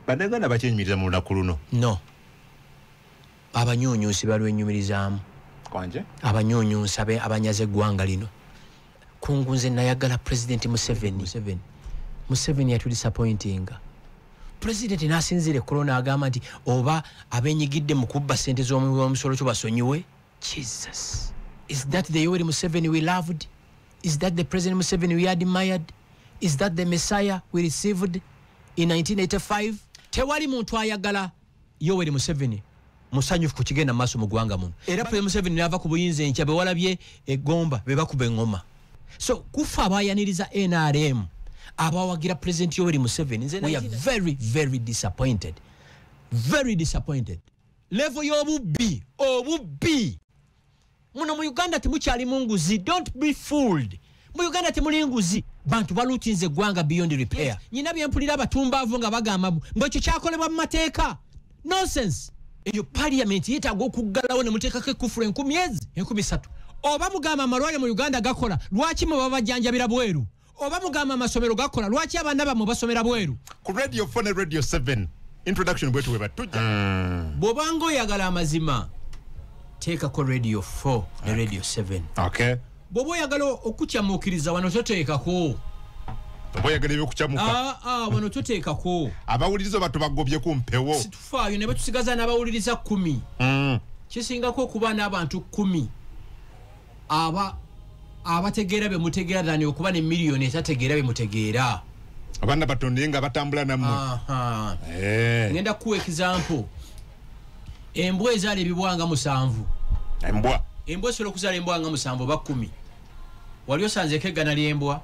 banaganda bakyenyumiriza mu lunaku luno no abanyunyusi balwenyumirizaamu kwanje abanyunyusi abanyaze eggwanga lino kungu nze nayagala pulezidenti museveni museveni yatudisapointinga pulezidenti nasinziira ekkolo naagamba nti oba abenyigidde mu kubba sente z'omuwi w'omusolo kyo basonyiwe jesus is that the yoweri museveni we loved is that the president museveni we admired is that the messiah we received in 1985 tewali muntu ayagala yoweri museveni musanyufu ku kigenda maaso mu ggwanga muno era pre museveni naava ku buyinza enkya bewalabye egomba bebakuba eŋoma so kufa abayaniriza nrm abawagira president yoweri museveni nze we are very very disappointed very disappointed levo y'obubbi obubbi muno mu uganda temukyali mu nguzi don't be fooled mu uganda temuli nguzi bantu balutinze eggwanga beyond repair yes. nyina byempulira abatumbaavu nga bagamba mbu ekyo kyakolebwa mu mateeka nonsense eyo parliament yetaaga okuggalawo ne muteekako ekkufulu enkumi ezi enkumi satu oba mugamba amalwaliro mu uganda gakola lwaki mwe babajjanjabira bweru oba mugamba amasomero gakola lwaki abaana bamwe basomera bweru ku radio 4 ne radio 7 introduction bwetu weba tujja mm. bwobanga oyagala amazima teekako radio 4 ne radio 7 okay. bwoba oyagala okukyamuukiriza wano toteekako oboyagala ebyokukyamuka ah, ah, wano toteekako abawuliriza oba tubagobye ku mpewo situfaayo ne betusigaza n'abawuliriza kumi mm. kisingako okuba n'abantu kumi aba abategeera bye mutegeera than okuba ne miliyoni etategeera bye mutegeera abaana batonda ye nga batambula nammwe eh. ngenda kukuwa example embwa ezaala ebibwanga musanvu embwa embwa esobola okuzaala embwanga musanvu oba kumi wali osanzeeko eggana ly'embwa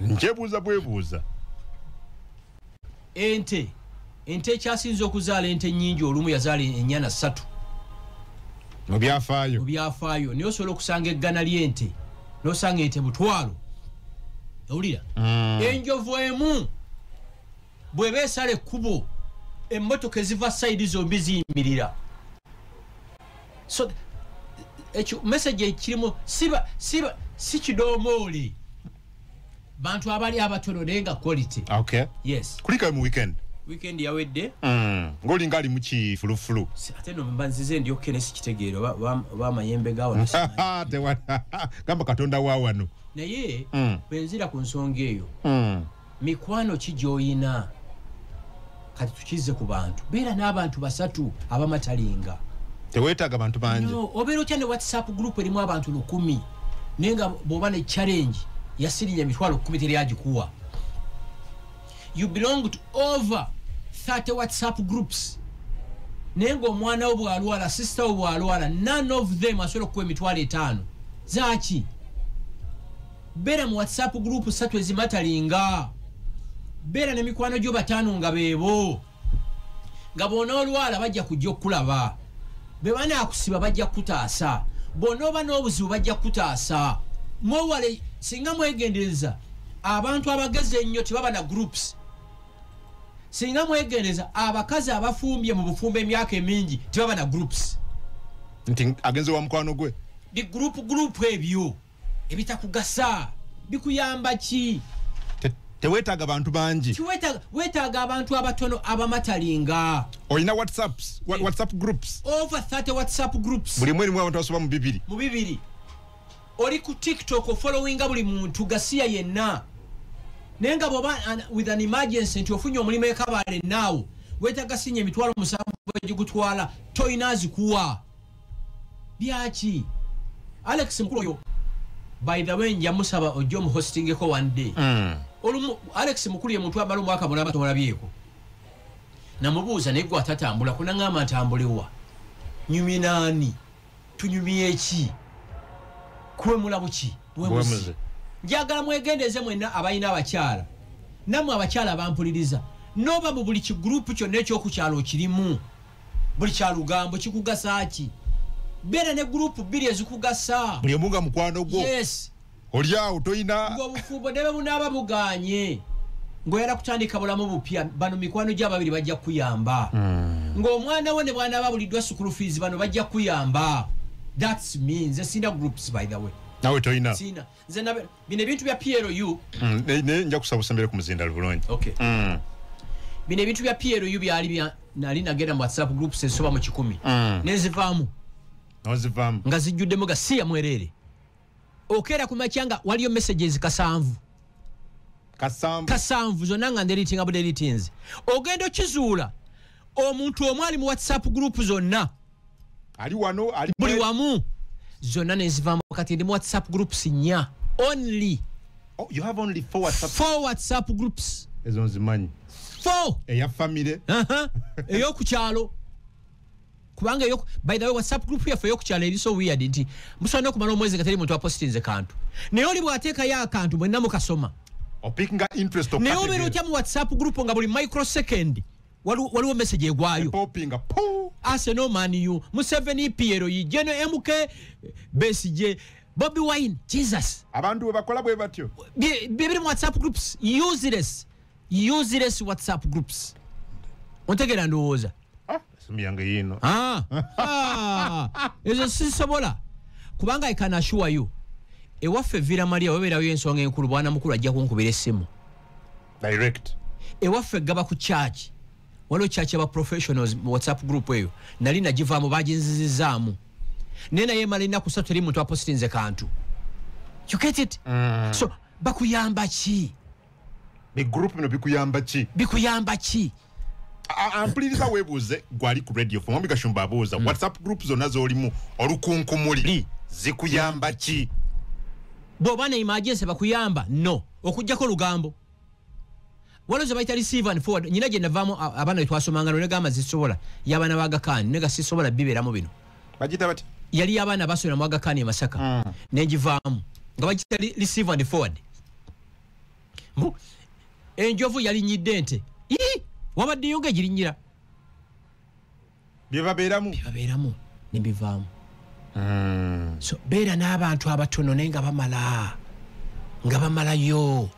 njebuuza bwebuuza ente ente ekyasinza okuzaala ente nyingi olumu yazaala enyana ssatu mubyafaayo mubyafaayo naye osobola okusanga eggana lyente nosanga ente butwalo owulira mm. enjovu emu bweba esala ekkubo emmotoka eziva saidi zombi ziyimirira so ekyo message ekirimu siba siba si kidomooli bantu abali abatono naye nga quality okay. yes. kulikayo mu weekend weekend yawedde mm. ngolinga ali mukifulufulu ate no mba nzize ndi okene sikitegeero oba amayembe gawagamba katonda wa wano naye mm. bwenzira ku nsonga eyo mm. mikwano ki gyoyina kati tukize ku bantu beera n'abantu basatu abamatalinga tewetaaga abantu bangi obeera otya ne whatsapp group erimu abantu lukumi naye nga bwoba ne challenge yasirinya emitwalo kumi teri agikuwa you belong to over 30 whatsapp groups naye ngaomwana wo bwalwala sister wo bwalwala none of them asobola okukuwa emitwalo etaano zaki Bera mu WhatsApp group satu ezimatalinga. Bera ne mikwano gyo batano nga bebo. Nga bona olwala bajja kujja okulaba. Be bana akusiba bajja kutaasa. Bona oba n'obuzibu bajja kutaasa. Mwewale singa mwegendereza abantu abageze ennyo tebaba na groups. Singa mwegendereza abakazi abafumbye mu bufumbo emyaka emingi tebaba na groups. Nti agenze wa mukwano gwe. Di group group ebyo. Eh, ebitakugasa bikuyamba ki tewetaaga bantu bangi wetaaga abantu abatono abamatalinga olina whatsapps eh. whatsapp groups over 30 whatsapp groups buli mwerimu abantu basoba mu bibiri mu bibiri oli ku tiktok ofollowinga buli muntu gasiya yenna naye nga bwoba with an emergency nti ofunye omulimu ekabale naawo wetaga sinya emitwalo musanvu egigutwala toyina azikuwa byaki alex mukulu oyo by the way njamusaba ojja omuhostingeko one day mm. olumu alex mukulu ye muntu amala omwaka mulamba tomulabyeko namubuuza naye gwe atatambula kunaŋamba ntambulewa nyumye naani tunyumye eki kuwemula buki wemuzi njagala mwegendeeze mwenna abalina abakyala namwe abakyala bampuliriza noba mu buli kigurupu kyonna ekyokukyalo kirimu buli kya lugambo kikugasa ki beera ne gurupu bbiri ezikugasa buli omu nga mukwano gwo yes oli awo tolina ngaobufumbo nebe bunaaba buganye ngaoyala kutandika bulamu bupya bano mikwano gyo ababiri bajja kukuyamba mm. ngaomwana wo ne bwana babuliddwa sukulu fiizi bano bajja kukuyamba thats me nze sina groups by the way nawe tolina sina nze nabe bino ebintu bya PLU mm, ne, ne nja kusaba usembere kumuzinda lubulungi okay mm. bino ebintu bya PLU byali bya nali nagenda mu WhatsApp group se soba mu kikumi mm. nezivamu nozivamu nga zijjudde mu gasiya mwerere okera ku machanga waliyo messages kasanvu kasanvu kasanvu zona nga ndelitinga bu delitinze ogendo kizuula omuntu omwali mu WhatsApp group zonna ali wano ali buli wamu zonna nezivamu kati ndi mu whatsapp groups nya only oh, you have only four whatsapp, four whatsapp groups ezo nzimanyi four eya family aha eyoku kyalo kubanga eyo by the way whatsapp group yaffe eyoku kyalo eri so weird nti musobola okumala omwezi kateri muntu apostinze kantu naye oli bwateekayo akantu mwenna mukasoma opickinga interest naye obeera otya mu whatsapp group nga buli microsecond waliwo waliwo message egwayo popinga puu arsenal man u museveni piero yijeno mk besije bobi wine jesus abantu webakola bwe batyo bye bye biri mu whatsapp groups useless useless whatsapp groups ontegera ndowooza Ah, simu yange yiino Ah, ah, ezo sisobola kubanga i can assure you ewaffe vira maria webeerayo ensonga enkulu bwana mukulu ajja kunkubira essimu direct ewaffe gaba ku church waliwo church aba professionals mu whatsapp group eyo nali nagivaamu baginzizizaamu naye naye emala ennaku satu teri muntu apositinze kantu you get it mm. so bakuyamba ki bigroup bino bikuyamba ki bikuyamba ki ampuliriza webuuze gwali ku radio fo mwami gashumba abuuza hmm. whatsapp group zonna zolimu olukunkumuli zikuyamba ki bwoba ne imagense bakuyamba no okujjako olugambo waliwo zebayita receive and forward nyina gye navaamu abaana betwasomanga no negamba zisobola yabaana bagakaani nega sisobola bibeeramu bino bagita bati yali yabaana basomera mu agakaani emasaka hmm. negivaamu nga bagita receive and forward mbu enjovu yalinyidde ente wabaddeyo nga egirinyira byebabeeramu byebabeeramu nebivaamu hmm. so beera n'abantu abatono naye nga bamala nga bamalayo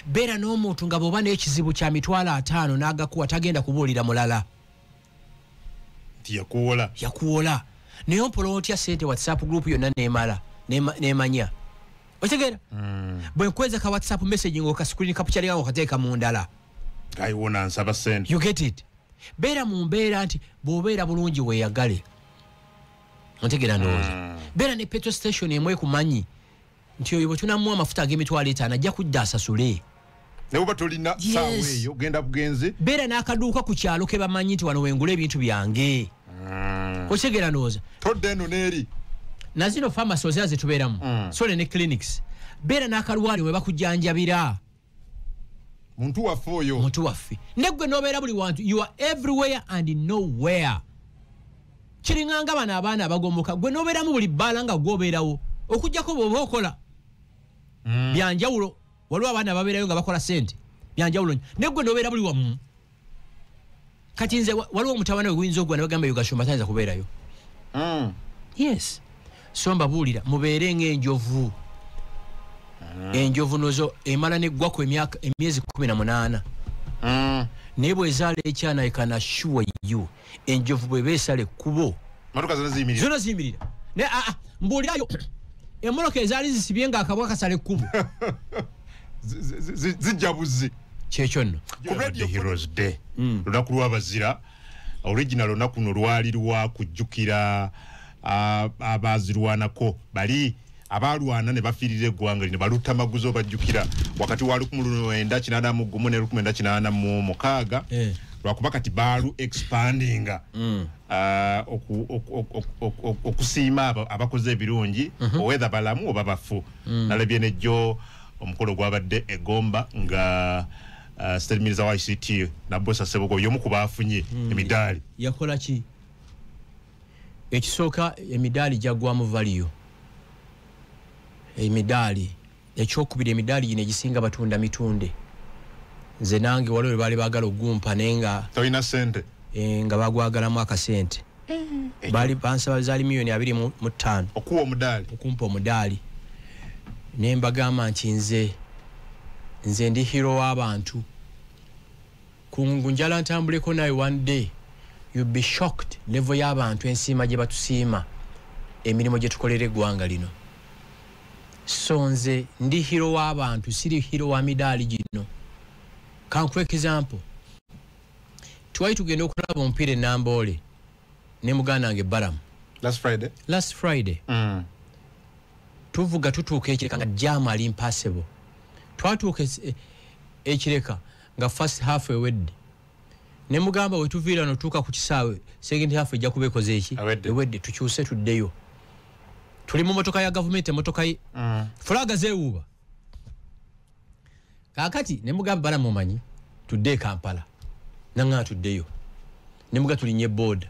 beera n'omuntu nga bwoba n'ekizibu kya mitwalo ataano n'agakuwa tagenda kubuulira mulala nti yakuwola yakuwola naye ompola otya sente whatsapp group yonna nemala nemanya otegera hmm. bwenkweza ka whatsapp message nga okascreen kapukyalinganga okateeka mu ndala ayiwona nsaba sente you get it beera mu mbeera nti bwobeera bulungi weyagale otegera ndowooza hmm. beera ne petro station emwekumanyi nti oyo bwe tunamuwa amafuta ag'emitwalo etaano ajja kudda asasule naye oba tolina saawa eyo genda bugenzi beera n'akaduuka ku kyalo ke bamanyi nti wano wengula ebintu byange mm. okyegera nooza todda eno n'eri nazino famasi ozira zetubeeramu mm. sole ne clinics beera n'akalwaliro we bakujanjabira muntu waffe oyo muntu waffe negwe nobeera buli wantu you are everywhere and nowhere kiringanga bano abaana abagomoka gwe nobeeramu buli bbaala nga gwobeerawo okujjako bwoba okola mm. byanjawulo waliwo abaana babeerayo nga bakola sente byanjawulo negwe nobeera buli wamu kati nze waliwo omutawana weguyinza ogwa nebagamba yugashumba tayinza kubeerayo hmm. yes so mbabuulira mubeere ngaenjovu hmm. enjovu nozo emala neggwaku emyezi kumi na munaana hmm. naye bwezaala ekyana ekana sure you enjovu bweba esala ekkubo zona ziyimirira naye aa ah, ah, mbuulirayo emmotoka ezaali zisibye nga akabwa kasala ekkubo zijja buzzi kyekyo nno hmm. lunaku lwabazira original lunaku no lwali lwakujjukira ah, abazirwanako bali abaalwana ne bafiirira eggwanga lino balutta maguzi obajjukira wakati wa lukumu lwenda kinaana mu gumu ne lukumu enda kinaana mu mukaaga eh. lwakuba kati baalu expandinga mm. ah, okusiima abakoze ebirungi mhm. owetha balamu oba bafu mm. nalabye nejjo omukolo gwabadde egomba nga ah, stelmiriza wa ict nabosa sebogo yomu ku baafunye mm. emidaali yakolaki ekisooka emidaali gyaggwamu valiyo emidaali ekyokubiri emidaali gino egisinga batunda mitunde nze nange waliwo webaali baagala okugumpa naye nga tolina sente eh, nga bagwagalamu akasente eh, baali bansaba zaali miliyoni abiri mu ttaano okuwa omudaali okumpa omudaali naye mbagamba nti nze nze ndi hiro w'abantu kungu njala ntambuleko naye one day you be shocked level y'abantu ensiima gye batusiima emirimu gye tukolera eggwanga lino so nze ndi hiro w'abantu siri hiro wa midaali gino kankuwa ekizampo twali tugenda okulaba omupiira enamboole ne muganda wange baramu last friday, last friday. Mm. tuvuga tutuuka ekireka nga jaamu ali mpaasebo twatuuka ekireka nga first half ewedde ne mugamba wetuviira no tuuka ku kisaawe second half ejja kuba ekoze eki ewedde tukyuse tuddeyo tuli mu motoka ya gavumenti emotoka ye mm. fulaga zewuuba kakati ne mugamba bala mumanyi tudde ekampala nangana tuddeyo ne muga tulinye boda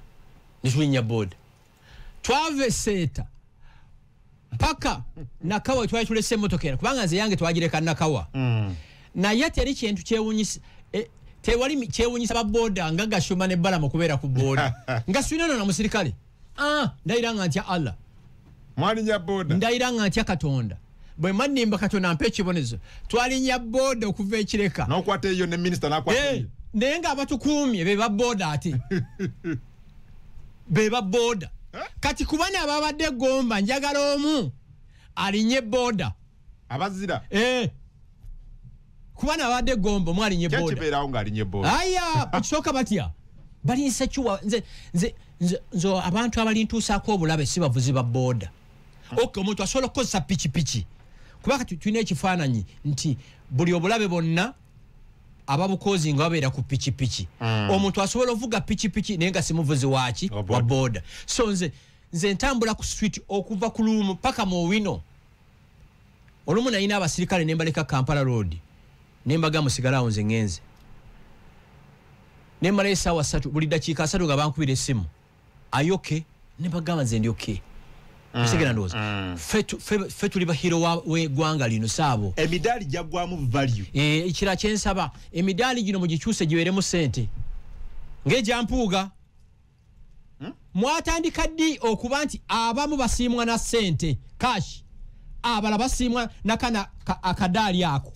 ne tulinya boda twava eseeta mpaka nakawa wetwali tulese emotoka eno kubanga nze yange twagireka nakawa mm. naye teri kintu kyewunyisa e, tewali kyewunyisa baboda nga gashuma ne balama okubeera ku boda nga swinono na musirikale ah, ndayira nga ntya allah mwalinya boda ndayira nga ntya katonda bwe mannimba katonda mpa ekibonezo twalinya booda okuva ekireka n'okwata eyo ne minisita n'akwata eh, eyo naye ng'abatukuumye be ba booda ate be ba booda eh? kati kuba naababadde egomba njagala omu alinye booda abazira eh. kuba naabadde egomba omu alinye boodakibeerawo ng'alinye booda aya okisooka batya balinsekiwa nze nze nze abantu abalintuusaako obulabe si bavuzi ba booda ok omuntu asobola okukozesa pikipiki kuba kati tulina ekifaananyi nti buli obulabe bonna ababukozi nga babeera ku pikipiki mm. omuntu asobola ovuga pikipiki naye nga simuvuzi waki wa boda so nze nze ntambula ku street okuva ku luumu paka mu owino olumu nayina abasirikale nembaleka kampala road nembaga musigalawo nze ngenze nemala esaawa satu buli dakiika asatu nga bankubira esimu ayoke ne bagamba nze ndi okay okitegera mm, ndowooza mm. ffe tuli bahiro wegwanga lino saabo emidaali jaggwamu value eh, ekira kyensaba emidaali gino mugikyuse giweremu sente ngaegyampuuga hmm? mwatandika ddi okuba nti abamu basiimwa na sente cash abala basiimwa nakana akadaali ako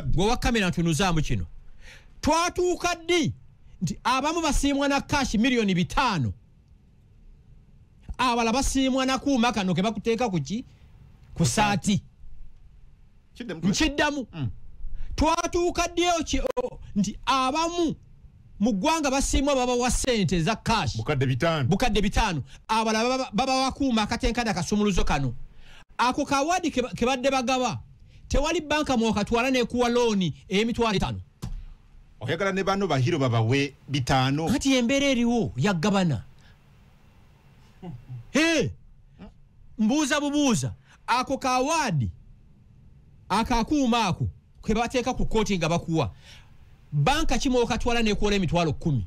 gwe wakamera ntunuzaamu kino twatuuka ddi nti abamu basiimwa na kashi miliyoni bitaano abala basiimwa nakuuma kano ke bakuteeka kuki ku saati nkiddamu mm. twatuuka ddeyo ki nti abamu mu ggwanga basiimwa babawa sente eza kashi bukadde bitaano abala babawakuuma akatenkada kasumuluzo kano ako kawaadi ke badde bagaba tewali banka mwokatwala nekuwa looni eyemitwalo etaano oyagala ne bano bahiro babawe bitaano kati embeera eriwo yagabana Hey, mbuuza bubuuza ako kawaadi akakuuma ako ke bateeka ku kooti nga bakuwa banka kimwokatwala nekwoola emitwalo kumi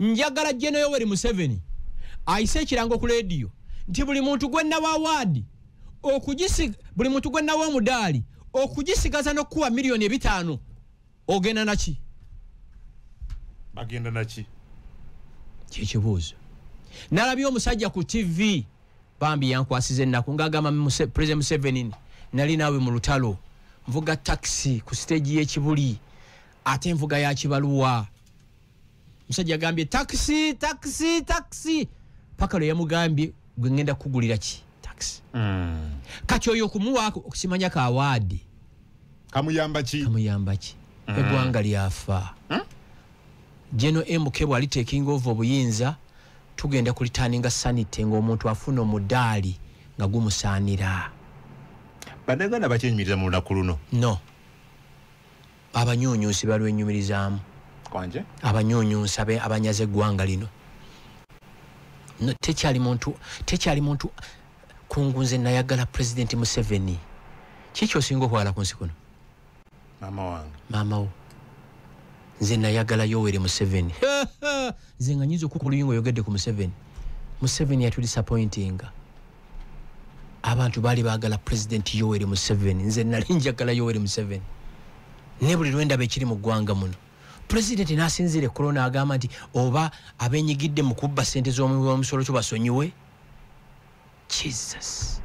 njagala jeno yoweri museveni ayise ekirango ku lediyo nti buli muntu gwenawa waadi buli muntu gwenawa omudaali okugisigaza nokukuwa miliyoni ebitaano ogenda naki bagenda naki kyekibuuzo nalabye omusajja ku tv bambi yankwasiza ennaku ngaagamba president museveni nali naawe mu lutalo nvuga takisi ku siteegi y'ekibuli ate nvuga ya kibaluwa musajja agambye takisi takisi takisi paka lwe yamugambye gwe ngenda kukugulira ki takisi mm. kati oyo okumuwaako okusimanya ka waadi kamuyamba ki kamuyamba ki mm. eggwanga lyafa hmm? geno mk bwali taking ova obuyinza tugenda kulitaninga sanite ngaomuntu afuna omudaali nga gumusaanira banaganda bakyenyumiriza mu lunaku luno no abanyunyusi balwenyumirizaamu abanyunyusi abanyaza eggwanga lino tekyali muntu tekyali muntu kungu nze nayagala pulezidenti museveni kiki osinga okwala ku nsi kuno maama wo nze nayagala yowere museveni nze nga nyinza okukuluyinga oyogedde ku museveni museveni yatudisapointinga abantu baali baagala pulezidenti yoweri museveni nze nali njagala yoweri museveni ne buli lwendaba ekiri mu ggwanga muno pulezidenti n'asinziira ekkulo n'agamba nti oba abenyigidde mu kubba ssente z'omusolo kyo basonyiwe jesus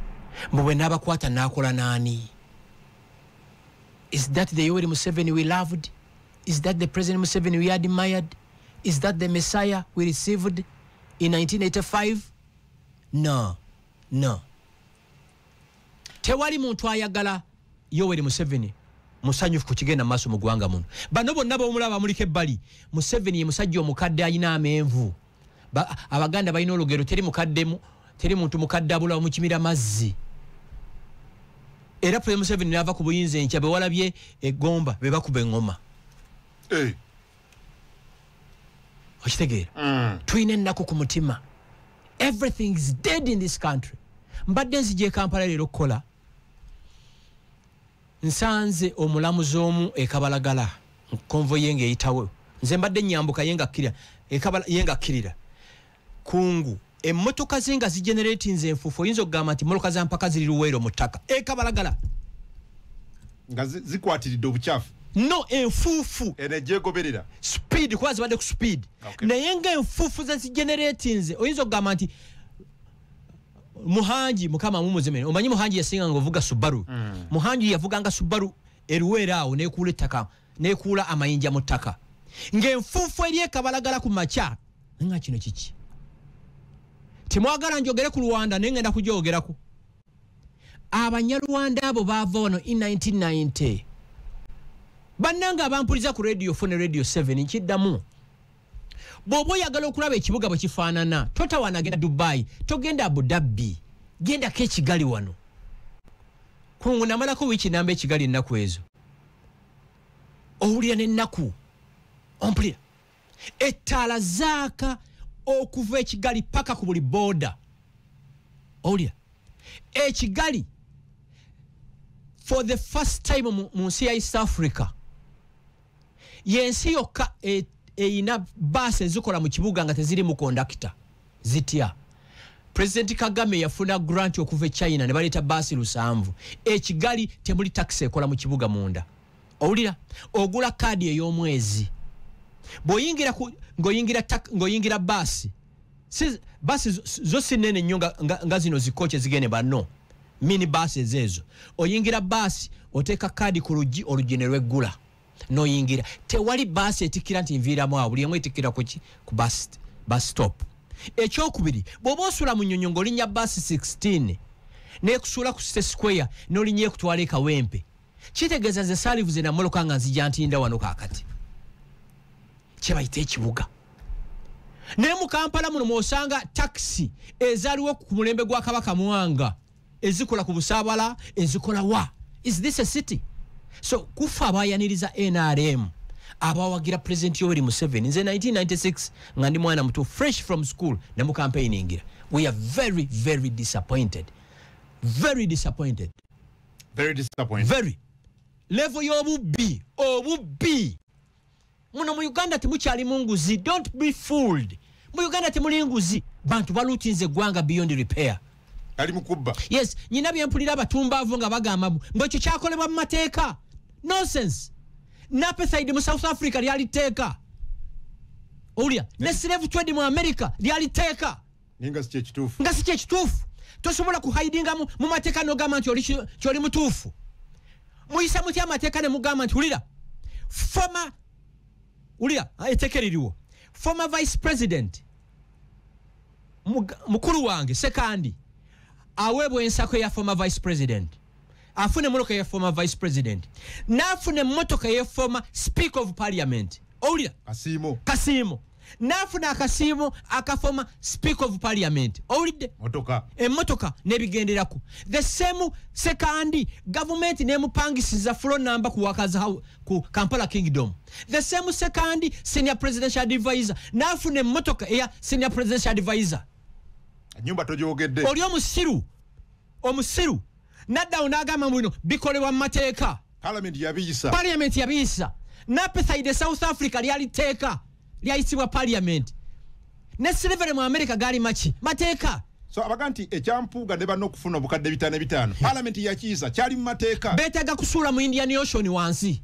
mbu bwe n'abakwata n'akola n'ani is that the yoweri museveni we loved is that the president museveni we admired is that the messiah we received in 1985 no no tewali muntu ayagala yoweri museveni musanyufu ku kigenda maaso mu ggwanga muno bano bonna bomulaba bamuliko ebbali museveni ye musajja omukadde alina amenvu abaganda balina olugero teri mukaddemu teri muntu mukadde abulawo mukimira mazzi era pule museveni naava ku buyinza enkya bewalabye egomba bebakuba eŋoma eh. okitegeera mm. tulina ennaku ku mutima everything is dead in this country mbadde nzija ekampala leero okukola nsanze omulamuzi omu ekabalagala konvo ye ngaeyitawo nze mbadde nyambuka yengakkirira kungu emmotoka ze nga zigeneratinze enfuufu oyinza okugamba nti mmotoka za mpaka ziri luweero mu ttaka ekabalagala nga zikwatiridde obukyafu no enfuufu enegyegoberera speed kuba zibadde ku speed okay. naye nga enfuufu ze zigeneratinze oyinza okugamba nti muhangi mukama mumuzimene omanyi muhangi yasinganga ovuga subaru mm. muhangi yavuganga subaru eruweera awo nekuula ettaka nekuula amayinja mu ttaka ng'enfuufu eri ekabalagala ku makya nga kino kiki temwagala njogere ku rwanda naye ngenda kugyogerako abanyarwanda abo baava wano in 1990 bannanga abampuliza ku radio fone radio 7 nkiddamu bw'oba oyagala okulaba ekibuga bwe kifaanana totawana agenda dubai togenda abudabbi gendako ekigali wano kungu namalako wiiki namba ekigali ennaku ezo owulira n'ennaku ompulira ettaala zaaka okuva ekigali paka ku buli booda owulira ekigali for the first time mu nsi ya east africa yensi yokka e, eyina baasi ezikola mu kibuga nga teziri mu kondakita zitya pulezidenti kagame yafuna grant okuva e china ne baleeta baasi lusanvu ekigali temuli takisi ekola mu kibuga munda owulira ogula kaadi ey'omwezi bwoyingira ngoyingira baasi baasi zo si nene nnyo nga zino zikoki ezigende banno mini baasi ezeezo oyingira baasi oteeka kaadi ku luggi oluggi ne lweggula noyingira tewali baasi etikkira nti nviiramu awo buli emu etikkira kuki ku basi stop ekyokubiri bw'oba osula mu nyonyo ng'olinnya baasi 16 nekusuula ku site square n'olinnya ekutwala ekawempe kitegeeza nze salivu ze namoloka nga nzija ntinda wano kakati kyebayita ekibuga naye mu kampala muno mwosanga takisi ezaliwo ku mulembe gwa kabaka mwanga ezikola ku busabala ezikola wa is this a city so kufa abayaniriza nrm abawagira pulezidenti yoweri museveni nze 1996 nga ndi mwana muto fresh from school ne mu kampeyini ngira we are very very disappointed very disappointed very disappointing very level y'obubbi obubbi muno mu uganda temukyali mu nguzi don't be fooled mu uganda temuli nguzi bantu balutinze eggwanga beyond repair ali mukubba yes nyina byempulira abatumbaavu nga bagamba mbu mbu ekyo kyakolebwa mu mateeka nonsense napethide mu south africa lyali tteeka owulira ne slave trade mu america lyali tteeka naye nga si kyekituufu nga si kyekituufu tosobola kuhaidinga mu mateeka nogamba nti kyoli mutuufu muyisa mutya amateeka nemugamba nti wulira former wulira ah, eteeka eririwo former vice president mukulu wange sekandi aweebwa ensako eya former vice president afuna emotoka ya former vice president nafuna emotoka ya former speaker of parliament owulira kasiimo kasiimo nafuna akasiimo akafoma speaker of parliament owulidde emotoka nebigenderako the same sekandi gavumenti nemupangisiza fulo namba kuwakaza ku kampala kingdom the same sekandi senior presidential advisor nafuna emotoka eya senior presidential advisor nyumba togyogedde oli omusiru omusiru naddawo n'agamba mu bino bikolebwa mu mateeka palamenti yabiyisa palamenti yabiyisa napethaide south africa lyali tteeka lyayisibwa palamenti ne silivere mu amerika gaali maki mateeka so abaga nti ekyampuuga ne banna okufuna obukadde bitaano ebitaano hmm. palamenti yakiyisa kyali mu mateeka beetaaga kusuula mu indian ocean wansi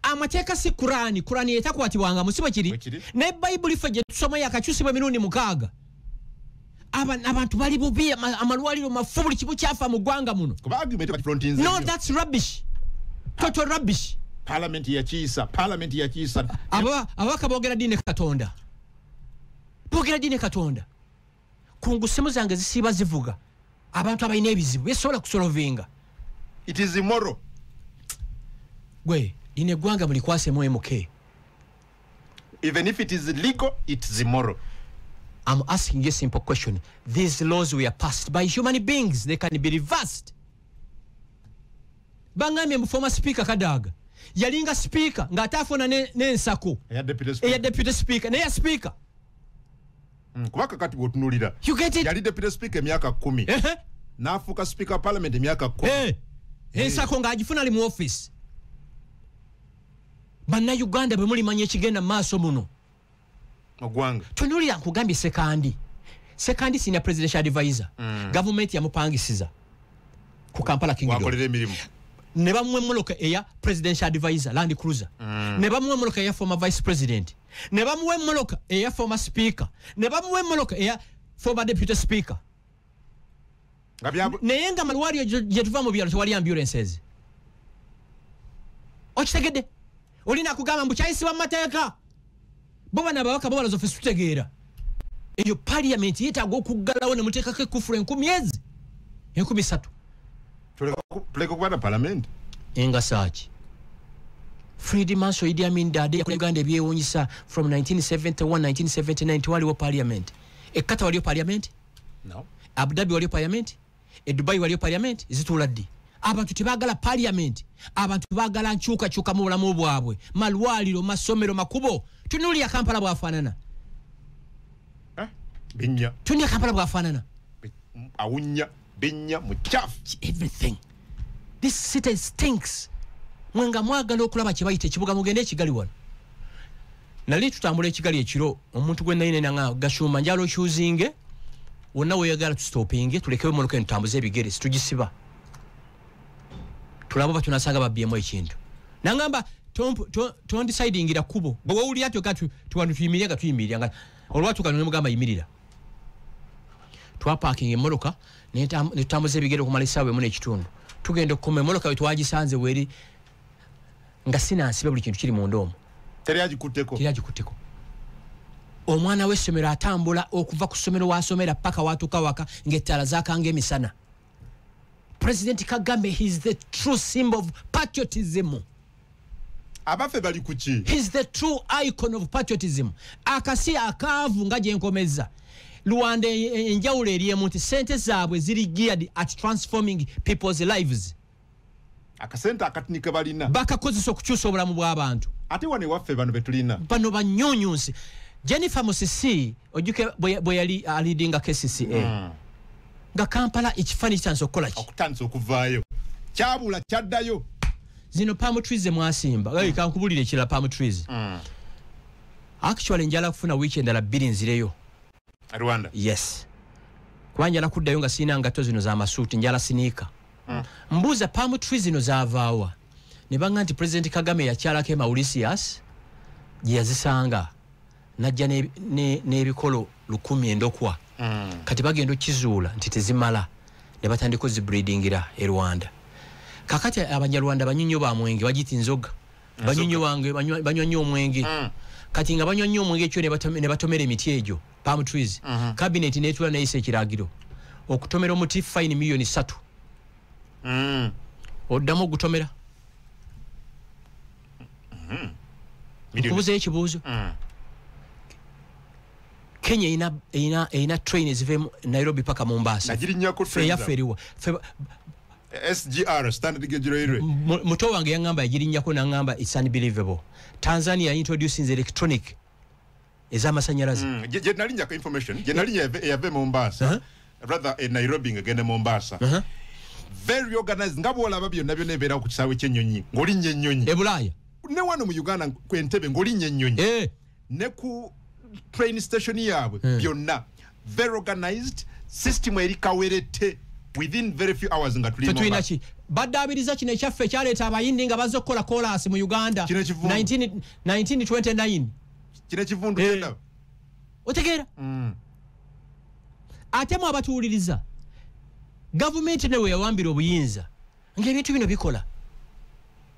amateeka si kuraani kuraani yetakwatibwanga musibo kiri naye bayibuli ffe gyetusoma yakakyusibwa emirundi mukaaga abantu bali bubi amalwaliro mafu buli kimu kyafa mu ggwanga muno no thats rubbish total rubbish parliament yakiisa parliament yakiisa ababaka bogera dine katonda bogera dine katonda kungu simu zange zisiiba zivuga abantu abalina ebizibu besobola kusolovinga it is immoral gwe lino eggwanga mulikwasemu mk even if it is legal it is immoral I'm asking you a simple question. These laws were passed by human beings. They can be reversed. Bangami mbu former speaker Kadaga. Yalinga speaker. Nga atafona ne, ne nsako. Eya deputy speaker. Eya deputy speaker. Ne ya speaker. mm, kuba kakati bwotunulira yali deputy speaker emyaka kumi nafuuka speaker wa parliament emyaka kumi eh, ensako eh. ngaagifuna ali mu office bannayuganda bwe mulimanya ekigenda mu maaso muno ogwanga tunulira nkugambye sekandi sekandi sina presidential advisor mm. gavumenti yamupangisiza ku kampala kingiwakolera emirimu ne bamuwa emmoloka eya presidential advisor land cruiser mm. ne bamuwa emmoloka eya former vice president ne bamuwa emmoloka eya former speaker ne bamuwa emmoloka eya former deputy speaker naye nga malwaliro gyetuva mu byalo tewali ambulances okitegedde olina kugamba mbu kyayisibwa mu mateeka bo bana ababaka bo baloza fesi tutegeera eyo paliamenti yetaaga okuggalawo ne muteekako ekufula enkumi ezi enkumi satu tuleka okuba na palamenti engasaaki fredi manso idi amin dade yakola uganda ebyewunyisa from 1971 1979 tewaliwo paliamenti ekkata waliyo paliamenti no. abudabi waliyo paliamenti e dubai waliyo parliament zituula ddi abantu tebagala parliament abantu bagala nkyukakyuka mu bulamu bwabwe malwaliro masomero makubo tunulia kampala bwafanana eh? binya tunulia kampala bwafanana awunya binya muchafu everything this city stinks mwenga mwagala okulaba kyebayita ekibuga mugende ekigali wano nali tutambula ekigali ekiro omuntu gwe nali nena nga gashumba njala okyuzinge wonna weyagala tusitopinge tulekewo emotoka eno tutambuze ebigere situgisiba tulaba oba tunasanga babyemu ekintu nangamba tondisidingira kubo bwe wewulira tyoka tuwanu tuyimirira nga tuyimirira nga olwatuka nemugamba yimirira twapakinga emotoka netutambuza ebigere okumala esaawa emu nekitundu tugenda okukoma emotoka wetwagisanze weri nga sinansibe buli kintu kiri munda omu teri agikutteko teri agikutteko omwana w'essomero atambula okuva ku ssomero wasomera paka watuuka waka ng'ettaala zakanga emisana president kagame his the true symbol of patriotism abafe bali kuki his the true icon of patriotism akasi akaavu nga gyenkomezza rwanda e, e, enjawulo eriemu nti sente zaabwe ziri geared at transforming people's lives akasente akatini ke balina bakakozesa okukyusa obulamu bw'abantu ate wano ewaffe bano betulina bano banyunyunsi jennifer musisi ojuke bwe yali alidinga kcca hmm. nga kampala ekifaani kitandisa okukola ki okutandisa okuvaayo kyabula kyaddayo zino palm trees zemwasimba mm. hey, kankubulire ekirala palm trees mm. actually njala kufuna wiiki endala bbiri nzireyo rwanda yes kuba njala kuddayo nga sirina ngatto zino za masuuti njala siniika mm. mbuuza palm tree zino zavaawa ne banga nti president kagame yakyalako emaurisius gye yazisanga najja n'ebikolo ne, ne lukumi endokwa mm. kati bagenda okizuula nti tezimala ne batandika ozibreedingira e rwanda kakati abanyarwanda banyinyo bamwenge bagiti nzoga banyonyi wange banywa nnyo omwenge mm. kati nga banywa nnyo omwenge ekyo ne batomera emiti egyo palm trees mm-hmm. cabinet netula neyisa ekiragiro okutomera omuti fine millioni satu mm. oddamu ogutomera mm-hmm. nkubuzayo ekibuuzo mm. kenya erina train eziva nairobi paka mumbaasa eyaffe eriwa SGR standard gauge railway muto wange yangamba yagirinyako nangamba it's unbelievable Tanzania introducing electronic ezamasanyalaze mm, je nalinya ka information je nalinya yave Mombasa uh -huh. rather in Nairobi ngende Mombasa uh -huh. very organized ngabo wala babyo nabyo nebera ku kisawe kyenyonyi ngoli nyenyonyi ebulaya ne wano mu Uganda kwentebe ngoli nyenyonyi eh ne ku train station yaabwe hmm. byonna very organized system eri kawerette within very few hours nga tulina ki baddaabiriza kino ekyaffe ekyaleeta abayindi nga bazze okukola kolaasi mu uganda 1929 kino ekivundu eh. otegeera hmm. ate mu abatuwuliriza gavumenti newe yawambira obuyinza ngaebintu bino bikola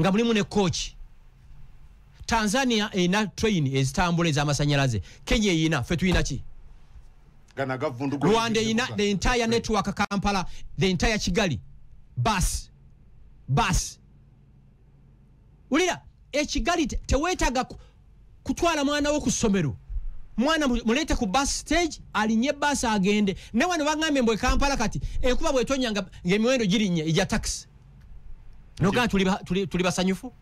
nga mulimu ne kooki tanzania erina train ezitambula ezamasanyalaze kenya eyina fe tulina ki rwanda erina the entire network kampala the entire kigali bas bas wulira ekigali tewetaga kutwala mwana wo ku ssomero mwana muleete ku bus stage alinye bus agende ne wano bangambye mbwe kampala kati enkuba bwetonya nga emiwendo girinye eja taxi nogaa tuli basanyufu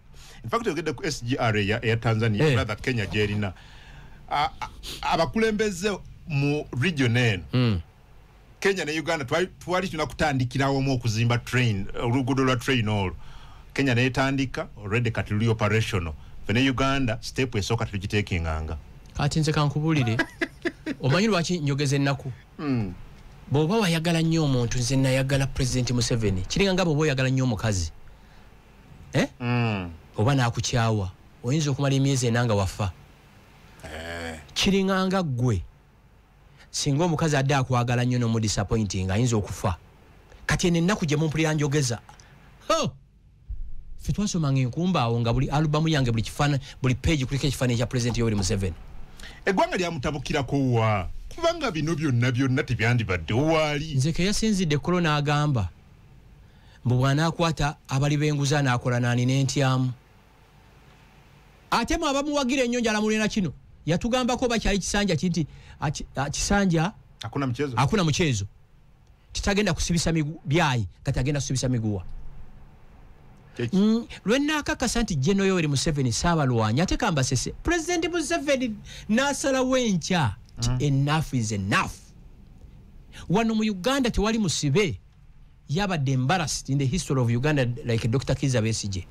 infact yogedde ku sgr eya tanzania eh. rather kenya gyerina abakulembeze mu region eno hmm. kenya ne uganda twali tulina kutandikirawo omu okuzimba train oluguudo lwa train olwo kenya netandika already kati luli operational fe ne uganda step esooka tetugiteekinganga kati nze kankubulire omanyi lwaki njogeza ennaku hmm. bwoba wayagala nnyo omuntu nze nayagala president museveni kiringa nga bwoba oyagala nnyo omukazi eh? hmm. oba nakukyawa oyinza okumala emyezi ena nga wafa eh. kiringanga ggwe singa omukazi adde akwagala nnyo nomudisappointing ayinza okufa kati eno ennaku gye mumpulira njogeza fe twasomanga enkumba awo nga buli alubamu yange buli kifana buli page kuliko ekifaananyi kya pulezidenti yoweri museveni eggwanga lyamutabukirako wa kubanga bino byonna byonna tebyandibadde owaali nze keyasinzidde kolo n'agamba mbu bw'anaakwata abali b'enguzi anaakola naani n'entyamu ate mwe abamuwagira ennyo njala mulina kino yatugambako oba kyali kisanja kinti kisanja akuna mukyezo titagenda kusibisa byayi kati agenda kusibisa miguwa mm, lwenakakasa nti geno yoweri museveni saabalwanyi ate kambasese pulezidenti museveni nasalawo enkya ti mm. enafu is enafu wano mu uganda tewali musibe yabadde embarrassed in the history of uganda like dr kiza besije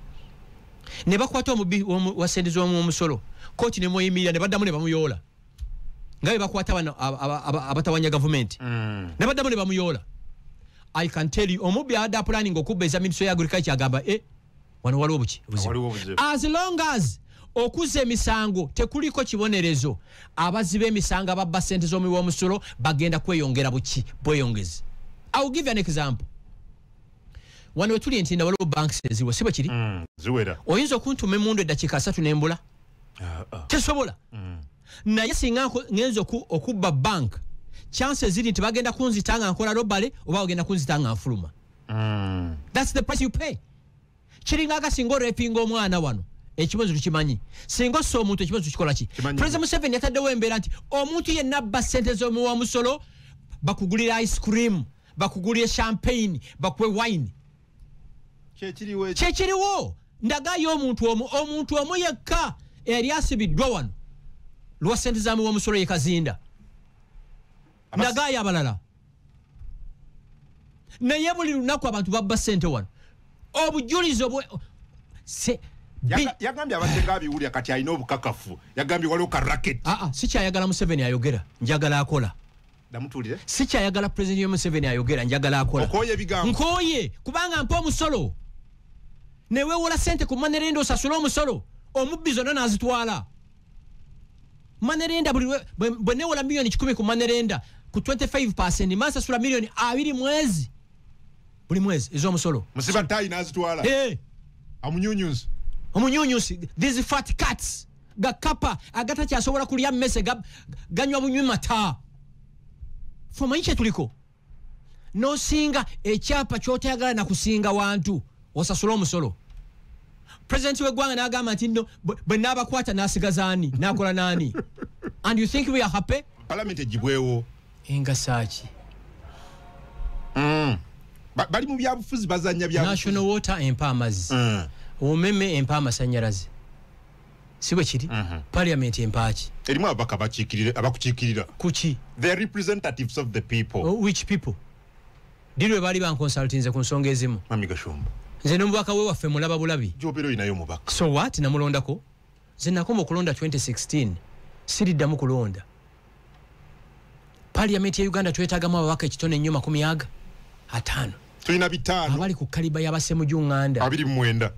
ne bakwata omubi wa sente z'omuomusolo kooti nemweyimirira ne baddamu ne bamuyoola nga be bakwata bano abatawanya gavumenti mm. ne baddamu ne bamuyoola i can tell you omubbi abadde apulaninga okubba ezaminisitry ya agriculture agamba e eh, wano waliwo buki as long as okuzza emisango tekuliko kibonerezo abazi b'emisango ababba sente z'omuwi w'omusolo bagenda kweyongera buki bweyongezi iwill give an example wano wetuli nti nawaliwo banks eziwo si bwekiri mm, oyinza okuntuma emundu eddakiika asatu nembula ah, ah. tesobola mm. naye singa ngenza okubba bank chanse ziri nti bagenda kunzita nga nkola robale oba bagenda kunzita nga nfuluma mm. thats the price you pay kiringa nga singa orepinga omwana wano ekibonezo tukimanyi singa ossa omuntu ekibonezo tukikola ki president museveni yataddewo embeera nti omuntu yenna abba ssente z'omuwa musolo bakugulira ice cream bakugulire champagne bakuwe wine kyekiriwo ndagayo omuntu omu omuntu omu yekka eyali asibiddwa wano lwa sente zamuwa omusolo yekazinda ndagayo abalala naye buli lunaku abantu babba sente wano obujulizi obwe yagambye abaddeko abiwulira kati alina obukakafu yagambye waliwo ka raket aa ah, ah, sikyayagala museveni ayogera njagala akola damutulire sikyayagala pulezidenti yomuseveni ayogera njagala akola okoye ebigambo nkoye kubanga mpa omusolo newewola sente ku manerenda osasule omusolo omubbi zonna nazitwala manerenda buli lwe- bwe- bwe newola miliyoni kikumi ku manerenda ku 25 mansasula miliyoni abiri mwezi buli mwezi ez'omusolo musiba tayi n'azitwala Eh, amunyunyunsi omunyunyusi these fat cats gakapa agatakyasobola kulya mmese ga- ganywa bunywi mata fe omanyi kyetuliko nosinga ekyapa kyotayagala nakusinga wantu osasula omusolo president wegwanga nagamba nti no bwenabakwata nasigazaani nakola nani and you think we are happy parliament ejibwewo engasaki mm. bali mu byabufuzi bazanya bya national water empa amazzi mm. omeme empa amasanyalaze si bwe kiri mhm. parliament empaaki erimu ababaka abakukiikirira kuki the representatives of the people oh, which people ddi lwe baali bankonsultinze ku nsonga ezimu mami gashumba nze nomubaka we waffe mulaba bulabi jobera oyinayo omubaka so wat namulondako nze nakoma okulonda 2016 siriddamu kulonda parliament ya uganda twetagamu ababaka ekitone nnyo makumi aga ataano tulina bitaano abali ku kaliba yabasemuju nganda abiri mumwenda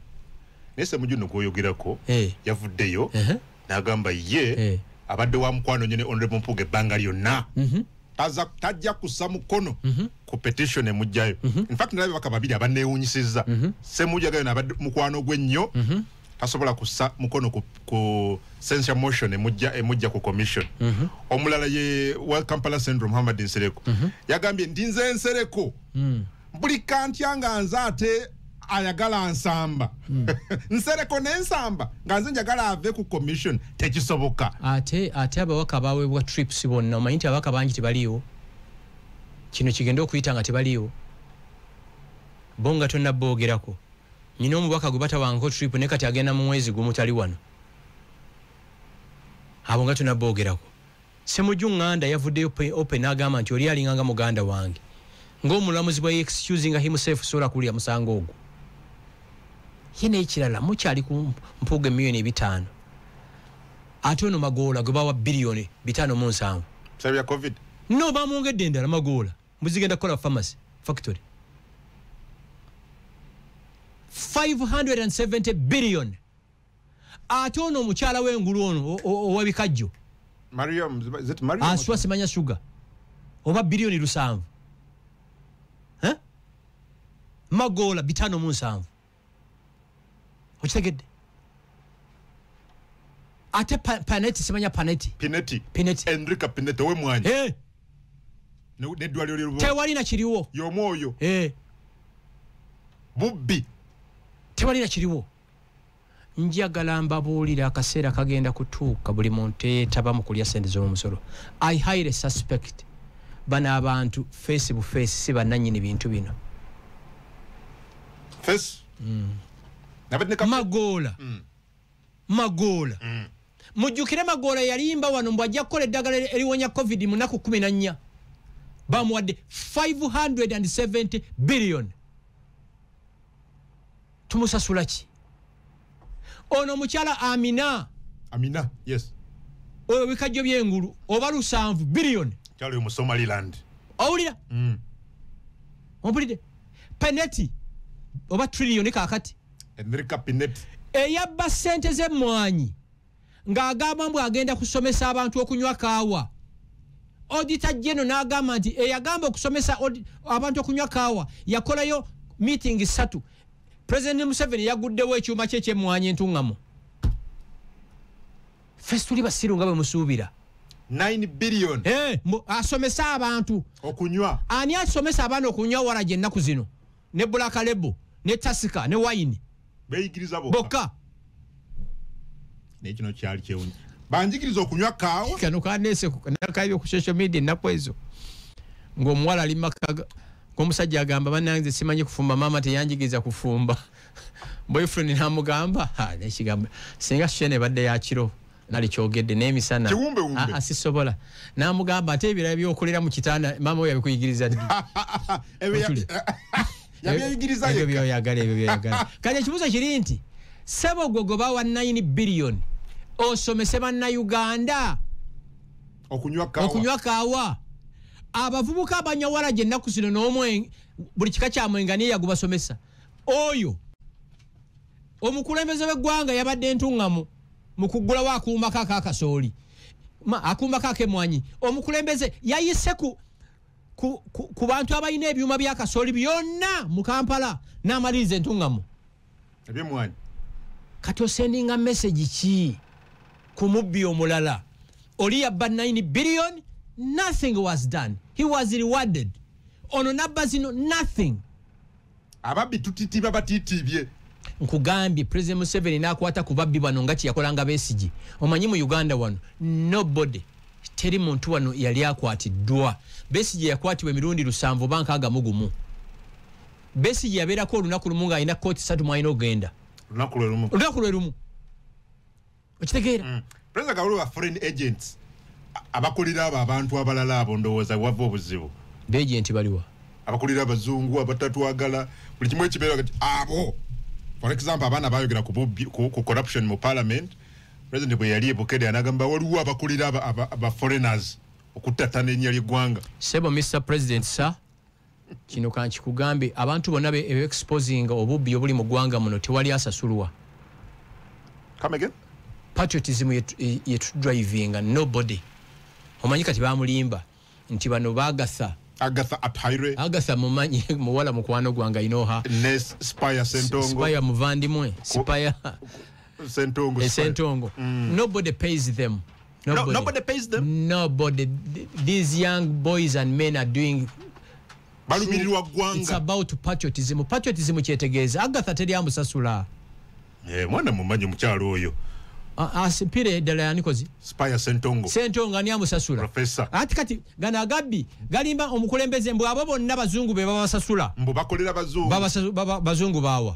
naye semuju no gwoyogerako hey. Eh. yavuddeyo uh -huh. nagamba ye hey. Eh. abadde wa mukwano nyo ne honorable mpuga ebbanga lyonna mm -hmm. taza tajja kussa mukono mm -hmm. ku petition emujjayo mm -hmm. infact nalabe baka babiri abanewunyisiza mm -hmm. semujagayo nabadde mukwano gwe nnyo mm -hmm. tasobola kussa mukono ku, ku censure motion emujja emujja ku commission mm -hmm. omulala ye wa Kampala Central Muhammad Nsereko mm -hmm. yagambye ndi nze Nsereko mm. buli kantya nga nze ate ayagala nsamba mm. Nsereko ne nsamba nga nze njagala ave ku commission tekisoboka ate ate abawaka baweebwa trips bonna omanyi nti abawaka bangi tebaliiwo kino kigenda okuyita nga tebaliiwo bo nga tonnaboogerako nyina omubaka gwe batawangako trip ne kati agenda mu mwezi gumu tali wano abo nga tunaboogerako semuju ŋŋanda yavuddeyo open agamba nti oli alinganga muganda wange ng'omulamuzi bwa excusinga himself sobola kuwulira musango ogwo ye n'ekirala mukyali ku mpuuga emiliyoni ebitaano ate ono magoola gwe bawa biliyoni bitaano mu nsanvu no bamwongedde endala magoola muzigenda kukola pharmacy factory 570 billion ate ono omukyala w'engulu ono owabikajjo aswa simanya sugar oba biliyoni lusanvu magoola bitano mu nsanvu okitegedde ate paneti simanya paneti pineti pineti enrika pineti owe mwanyi hey. Eh. nedwaliro lyerubo tewali na kiriwo yomwoyo hey. Eh. bubbi tewali na kiriwo njagala mbabuulira akaseera kagenda kutuuka buli muntu eyetaba mu kulya sente z'omusolo i highly suspect bano abantu feesi bufeesi si bannanyini bintu bino face mm. nabadde ka magola mm. magola mm. mujukire magola yalimba wano mbu ajja kukola eddagala eriwonya covid mu naku 14 bamuwadde 570 billion tumusasula ki ono omukyala amina amina yes oyo bikajjo byengulu oba lusanvu billion kyalo yo mu somaliland owulira mm. ompulidde peneti oba trillion kakati enrika peneti eyabba sente z'emmwanyi ng'agamba mbu agenda kusomesa abantu okunywa kaawa odita geno n'agamba nti eyagamba okusomesa abantu okunywa kaawa yakolayo meeting ssatu president museveni yaguddewo ekyuma kye ekyemmwanyi entuŋŋamu fesi tuli basiru nga bwe musuubira eh, asomesa abantu okunywa ani asomesa abaana okunywa wala gyennaku zino ne black label ne tasika ne wine beyigiriza bokka bokka naye kino kyali kyewunya banjigiriza okunywa kaawa kano kanese nakaibye ku social media ennaku ezo ng'omuwala ali maka ga- ng'omusajja agamba banange nze simanyi kufumba maama teyanjigiriza kufumba boyfriend namugamba "Ha, nekigambo singa shene ebadde yakiro nalikyogedde n'emisana asisobola n'amugamba ate ebirala byokolera mu kitanda maama we yabikuyigiriza ddi ebyo byoyagala ebyo byoyagala kati ekibuuzo kiri nti sebo gwe gwe bawa 9 biliyoni osomese bannayuganda okunywa kaawa abavubuka abanyawala gye nnaku zino n'omwenge buli kika kya mwenga niye yagubasomesa oyo omukulembeze w'eggwanga yabadde ntuŋŋamu mu kuggulawo akuumako aka kasooli akuumako akemwanyi omukulembeze yayise ku, ku, ku, ku bantu abalina ebyuma bya kasooli byonna mu kampala n'amaliriza entuŋŋamu ebyemwanyi kati osendinga mesegi ki ku mubbi omulala oli yabba 9 billion nothing was done he was rewarded ono nabba zino nothing ababbi tutitiba batitibye nkugambye president museveni nakwata ku babbi bano nga kyeyakolanga besigi omanyi mu uganda wano nobody teri muntu wano yali akwatiddwa besigi yakwatibwa emirundi lusanvu oba nkaaga mu gumu besigi yabeerako olunaku lumu ng'alina kooti satu mwalina okugenda olunaku lwe lumu okitegeera mm. president kawulu wa foreign agents abakulira abo abantu abalala abo ndowooza wava obuzibu beagenti baliwa abakulira abazungu abatatwagala buli kimu ekibeera kati abo for example abaana bayogera ku corruption mu parliament president bwe yali ebukede anagamba waliwo abakulira ba foreigners okuttattana erinnya ly'eggwanga sebo mr president sir kino kankikugambe abantu bonna beexposinga obubbi obuli mu ggwanga muno tewali asasulwa patriotism yetudrivinga nobody omanyi kati bamulimba nti bano bagatha agatha atire agatha mumanyi muwala mukwano gwange ayinoha spire sentongo spire muvandimwe spire sentongo esentongo mm. nobody pays them Nobody. No, nobody pays them. Nobody. These young boys and men are doing balumirirwa ggwanga it's about patriotism patriotism kyetegeeza agatha teri amusasula eh, mwana mumanyi mukyalo oyo asipire ddala yanikozi spire sentongo sentongo ani amusasula profesa ati kati gano agabbi galimba omukulembeze mbu abo bonna bazungu be babasasula mbu bakolera bazungu bazungu bawa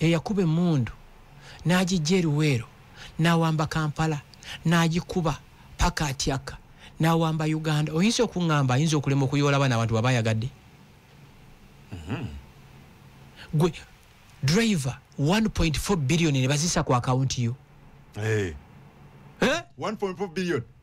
eyakuba emmundu n'agiggya e Luweero n'awamba Kampala n'agikuba paka atyaka n'awamba Uganda oyinza okungamba ayinza okulema okuyoola abaana abantu baba ayagadde mm-hmm. gwe driver 1.4 billion ne bazisa ku akawunti yo hey. Eh? eh? 1.4 billion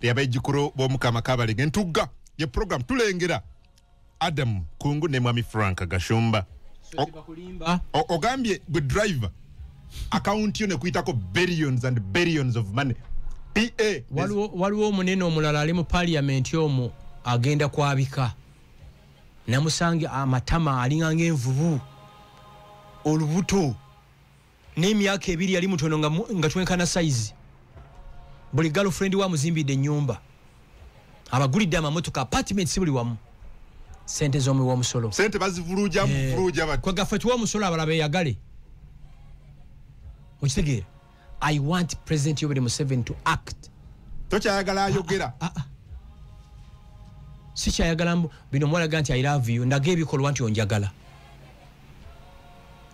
eyabejjukulu b'omukama kabalege ntugga ye program tulengera adamu kungu ne mwami frank gashumba ogambye gwe driver akawunti yo nekuyitako billions and billions of money pa waliwo omunene omulala ali mu paliamenti omu agenda kwabika namusanga amatama alinga ngaenvubu olubuto n'emyaka ebiri yali mutono nga twenkana sayizi buli galfrendi wa muzimbidde enyumba abagulidde amamotoka apartment si buli wamu sente zomuwi womusolo sente bazivuluja muvuluja eh, bati kwa gafe tuwa musolo abala be yagale mukitegeera i want president yobere museven to act tocha yagala ayogera ah, ah, ah, si chayagala bino mwala ganti i love you ndage ebikolwa nti onjagala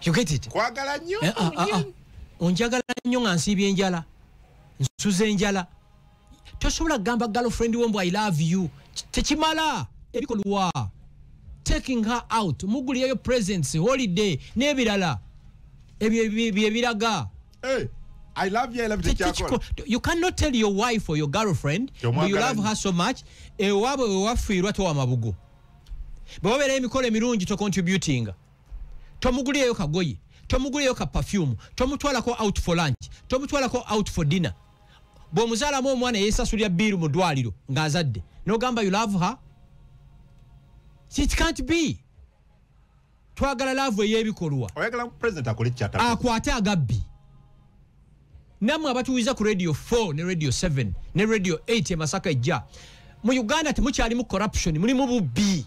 you get it kwagala nyo eh, ah, ah, ah. onjagala nyo nga nsiiba enjala nsuza enjala tosobola kugamba girlfriend wo mbu i love you tekimala ebikolwa taking her out muguliyeyo presents holiday n'ebirala ebyo byebiraga eh, I love you, I love you. You cannot tell your wife or your girlfriend you love her so much. Ewabo ewafiirwa to amabugo. Bwobera emikolo emirungi to contributing. tomugulireyo kagoye tomugulireyo ka perfume tomutwalako out for lunch tomutwalako out for dinner bw'omuzaalamu omwana yeesasulira biiru mu ddwaliro ng'azadde n'ogamba you love her it can't be twagala laavu ey'ebikolwa akwate agabbi nammwe abatuwiza ku radio 4 ne radio 7 ne radio 8 emasaka ejja mu uganda temukyalimu corruption mulimu bubbi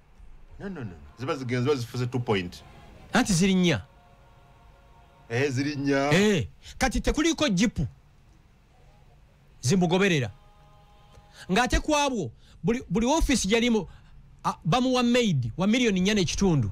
no, no, no. ziba zigenze ziba zifuze two point anti ziri nnya eh, ziri nnya eh, kati tekuliko jipu zimugoberera ng'ate ku abwo buli ofiisi gyalimu bamuwa maid wa miliyoni nnya n'ekitundu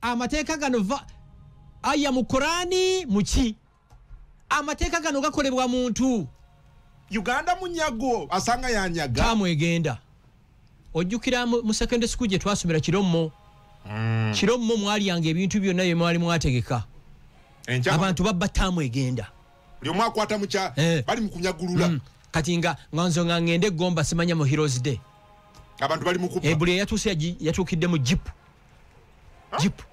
amateeka gano va aya mu kurani muki amateeka gano gakolebwa muntu uganda munyago asanga yanyaga tamu egenda ojjukira mu mu secondary school gye twasomera kirommo Mm. kirommo mwalyanga ebintu byonna bye mwali mwategeka Enkya- abantu babba taamu egenda buli omu akwata mukya Eh. bali mukunyagulula Mm. kati nga nga nzo nga ngende egomba simanya mu heroes day abantu bali mukuba ebuli eyatuuse yagi- yatuukidde mu jipu jipu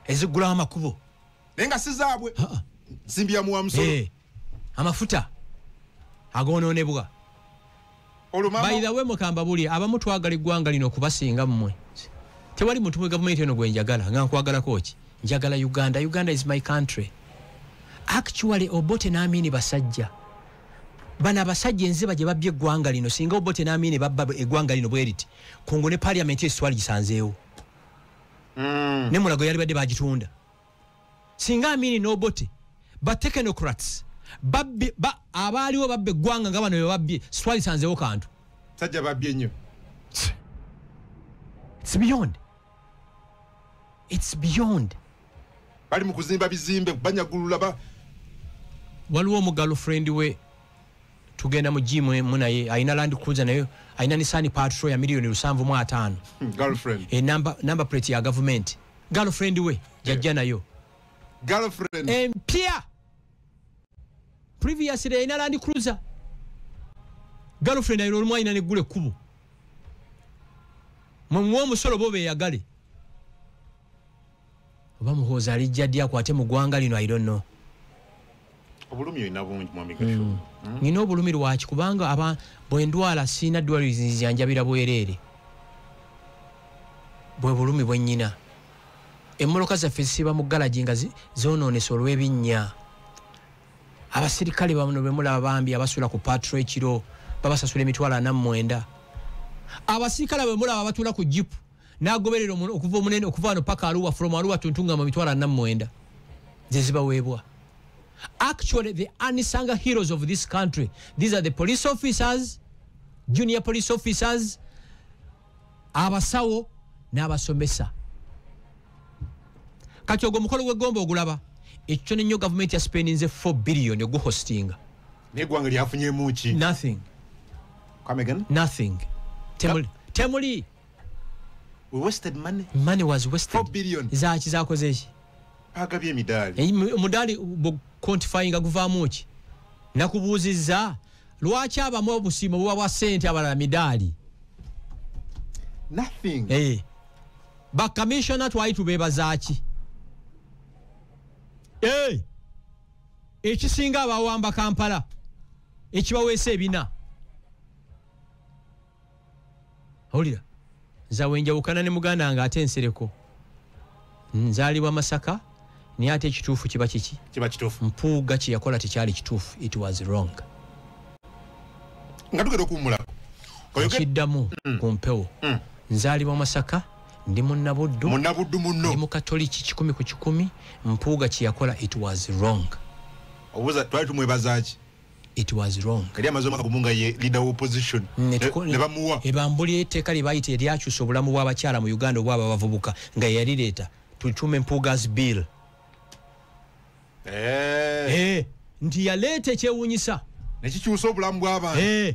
ezigula amakubo naye nga sizaabwe simbiyamuwa musolo eh, amafuta agonoonebwa bayidawe mukamba buli abamu twagala eggwanga lino okubasinga mmwe tewali muntu mu gavumenti eno gwe njagala nga nkwagalako ki njagala uganda uganda is my country actually obote n'amiini basajja bano abasajja enziba gye babbye eggwanga lino singa obote n'amiini babba eggwanga lino bweriti kongo ne parliament eyo sitwali gisanzeewo mm. ne mulago yali badde bagitunda singa amini nobote ba technocrats babbi ba abaaliwo babbe eggwanga nga bano bebabbye sitwali sanzeewo kantu sajja babbye nnyo sibiyonde its beyond bali mu kuzimba bizimbe banyagulula ba waliwo omugalo friend we tugenda mu jimu emu naye alina land cruiser naye alina nisani patro ya miliyoni lusanvu mu ataano hmm, e, number plate ya gavumenti girlfriend we jajja nayo empya previously yalina land cruiser girlfriend ayina olumu ayina neggula ekkubo mwemuwa omusolo bo beyagale oba muhoozi alijja ddi akwate mu ggwanga lino idonno obulumi olina bungi mwamigasho hmm. hmm? nina obulumi lwaki kubanga aba bwendwala siina ddwaliro zinzijanjabira bwereere bwe bulumi bwenyina emmoloka zaffe zisiiba mu galagi nga zonoonese olw'ebinnya abasirikale bano bemulaba bambi abasula ku patro ekiro babasasula emitwalo ana mumwenda abasirikale bemulaba batula ku jipu nagoberera okuva omunene okuva wano paka aluwa from aluwa tuntungama mitwalo ana mumwenda zezibaweebwa actually the anisanga heroes of this country these are the police officers junior police officers abasawo n'abasomesa kati ogwo omukolo gw'eggomba ogulaba ekyo kyona nnyo gavumenti yasipendinze 4 billion oguhostinga negwanga lyafunyemu ki nothing come again nothing temuli temuli we wasted money money was wasted 4 billion zaki zakoze ki bagabye emidaali eh, omudaali quantifyinga guvaamu ki nakubuuzizza lwaki abamu obusiimo buba bwa ssente abalala midaali nothing hey. Eh. bakamissiona twali tubeebazaaki hey. Eh. ekisinga abawamba kampala ekibaweesa ebina owulira nzawe njawukana ne muganda wange ate ensereko nzaalibwa masaka naye ate ekituufu kiba kiki kiba kituufu mpuuga kye yakola tekyali kituufu it was wrong nga tugenda okuwumulako okiddamu mm. ku mpewo mm. nzaalibwa masaka ndi munabuddu munabuddu munno ndi mukatoliki kikumi ku kikumi mpuuga kye yakola it was wrong obuuza twali tumwebazaaki it was wrong kali amazo maka kumunga ye leader of opposition ne eh, bamuwa ebambuli eteka libayite yali akyusa obulamu bwa bakyala mu Uganda obwa bavubuka nga yali leta tuchume mpugas bill eh eh ndi yalete kyewunyisa ne kikyusa obulamu bwa abantu eh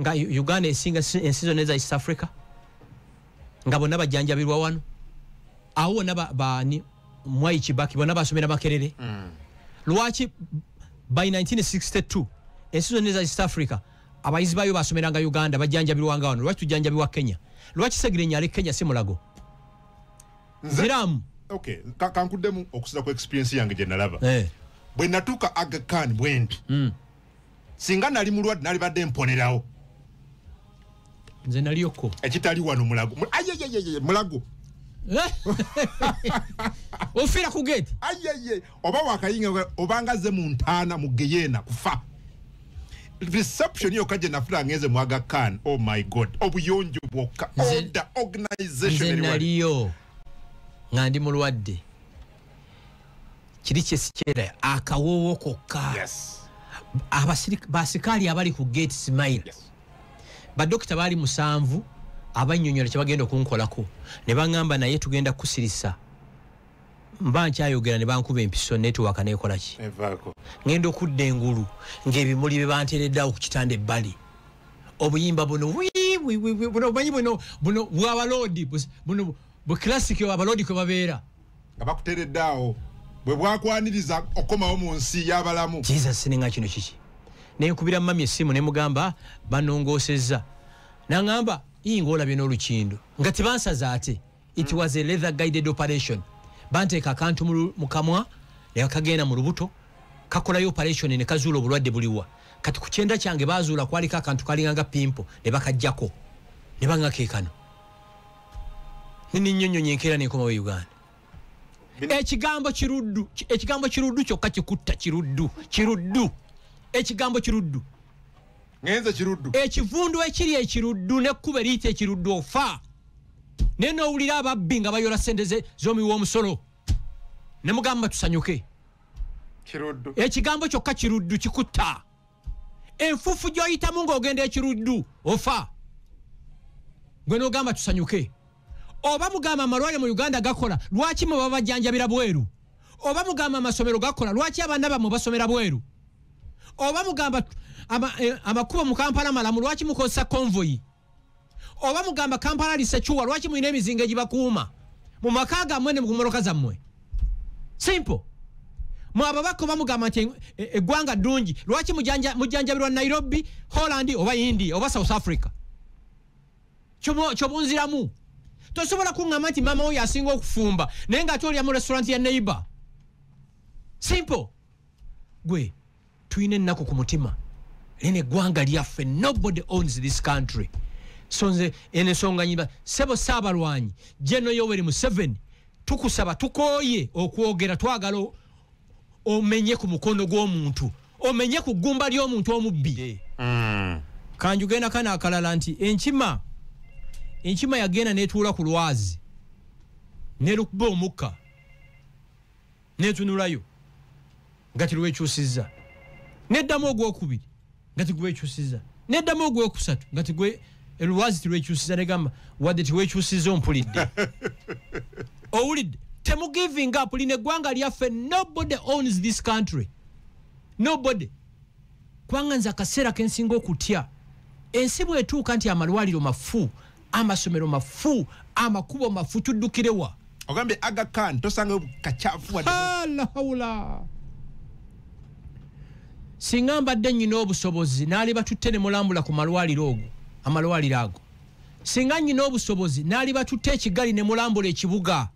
nga uganda esinga ensi zonna eza east africa nga bonna bajjanjabirwa wano awo wonna baani mwayi kibaki bonna basomera makerere mm. lwaki by 1962 ensi zonna eza east africa abayizi bayo basomeranga uganda bajjanjabirwanga wano lwaki tujjanjabirwa kenya lwaki segirenya ali kenya si mulago ziramu okay kankuddemu okusinza ku experience yange gye nalaba eh. bwe natuuka aga kan bwendi mm. singa nali mulwadde nalibadde mponerawo nze naliyoko ekitali wano mulago ayeyeyeye mulago eh? ofira ku gate ayeye oba wakayinga obanga ze mu ntaana mu geyena kufa reception yokka gye nafuna ngenze mwaga kan oh my god obuyonjo bwokka oda organizationaliyo nga ndi mulwadde kiri kyesikyera akawoowo kokka basikaali abali ku gate smile badokita baali musanvu abanyonyola kyebagenda okunkolako ne baŋamba naye tugenda kukusirisa mba nkyayogera ne bankuba empiso netiwaka nekolaki ŋenda okudda engulu ngaebimuli bye banteereddawo ku kitanda ebbali obuyimba buno buno omanyi buno buno bwabaloodi buno buclassic abaloodi kwe babeera nga bakuteredde awo bwe bwakwaniriza okukomawo mu nsi y'abalamu kiza sininga kino kiki naye nkubira mami essimu ne mugamba banongoosezza nangamba iyi ngaolabye n'olukindo nga tebansaza ate it was a leather guided operation banteeka akantu mu kamwa ne bakagenda mu lubuto kakolayo operation ne kazuula obulwadde buliwa kati ku kyenda kyange bazuula kwaliko akantu kalinganga pimpo ne bakajjako ne bangakekano nininyonyonyo enkeera nekomawo e uganda ekigambo kiruddu ekigambo kiruddu kyokka kikutta kiruddu kiruddu ekigambo kiruddu ngenze kiruddu ekivundu ekiri ekiruddu nekkuba eriyita ekiruddu ofa naye nowulira ababbi nga bayola sente zomi womusolo nemugamba tusanyuke ekigambo kyokka kiruddu kikutta enfuufu gy'oyitamu ng'ogenda ekiruddu ofa gwe n'ogamba tusanyuke oba mugamba amalwaliro mu uganda gakola lwaki mwe babajjanjabira bweru oba mugamba amasomero gakola lwaki abaana bammwe basomera bweru oba mugamba eh, amakubo mu kampala malamu lwaki mukozesa konvoyi oba mugamba kampala lisecuwa lwaki mulina emizinga egibakuuma mu maka gammwe ne mumoloka zammwe simple mwe ababaka oba mugamba nti e, e, eggwanga ddungi lwaki mujjanjabirwa nairobi holland oba india oba south africa kyobunziramu tosobola kuŋŋamba nti maama oyo asinga okufumba naye ng'ate olya mu restaurant ya neighbor simple gwe tulina ennaku ku mutima lino eggwanga lyaffe nobody owns this country so nze eno ensonga nyiba sebo saabalwanyi jeno yoweri museveni tukusaba tukooye okwogera twagala omenye ku mukono gw'omuntu omenye ku ggumba ly'omuntu omubbi mm. kanjugenda kana akalala nti enkima enkima yagenda netuula ku lwazi nelukba omukka netunulayo nga tirwekyusiza neddamu ogwokubiri nga tigwekyusiza neddamu ogwokusatu nga tigwe lwazi tirwekyusiza negamba wadde tiwekyusiza ompulidde owulidde temugiving up lino eggwanga lyaffe nobody owns this country nobody kubanga nze akaseera kensinga okutya ensi bwetuuka nti amalwaliro mafu amasomero mafu amakubo mafu tuddukirewa ogambye aga kan tosanga kachafu alahawula singa mbadde nyina obusobozi naali batutte ne mulambula ku malwaliro ogo amalwaliro ago singa nyina obusobozi naali batutte ekigali ne mulambula ekibuga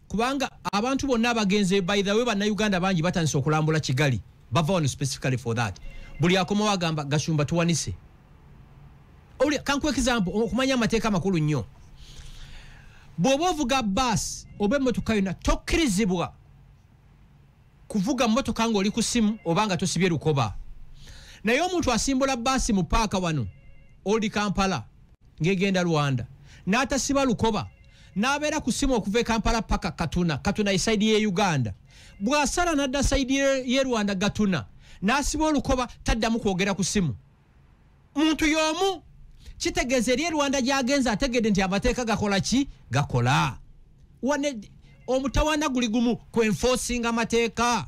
kubanga abantu bonna abagenze by the way bannayuganda bangi batandise okulambula kigali bava wano specifically for that buli akomawo agamba gashumba tuwanise kankuwa ekizambo okumanya amateeka amakulu nnyo bw'oba ovuga baasi oba emmotoka yonna tokkirizibwa kuvuga mmotoka ng'oli ku simu oba nga tosibye lukoba naye omuntu asimbula baasi mu paaka wano oldi kampala ng'egenda rwanda n'atasiba lukoba n'abeera ku simu okuva e kampala paka katuna katuna esaidi y'e uganda bw'asala n'adda saidi y'e rwanda gatuna n'asiba olukoba taddamu kwogera ku simu muntu y'omu kitegeeza eri erwanda gyagenze ategedde nti amateeka gakola ki gakola wane omutawana guli gumu ku enforcing amateeka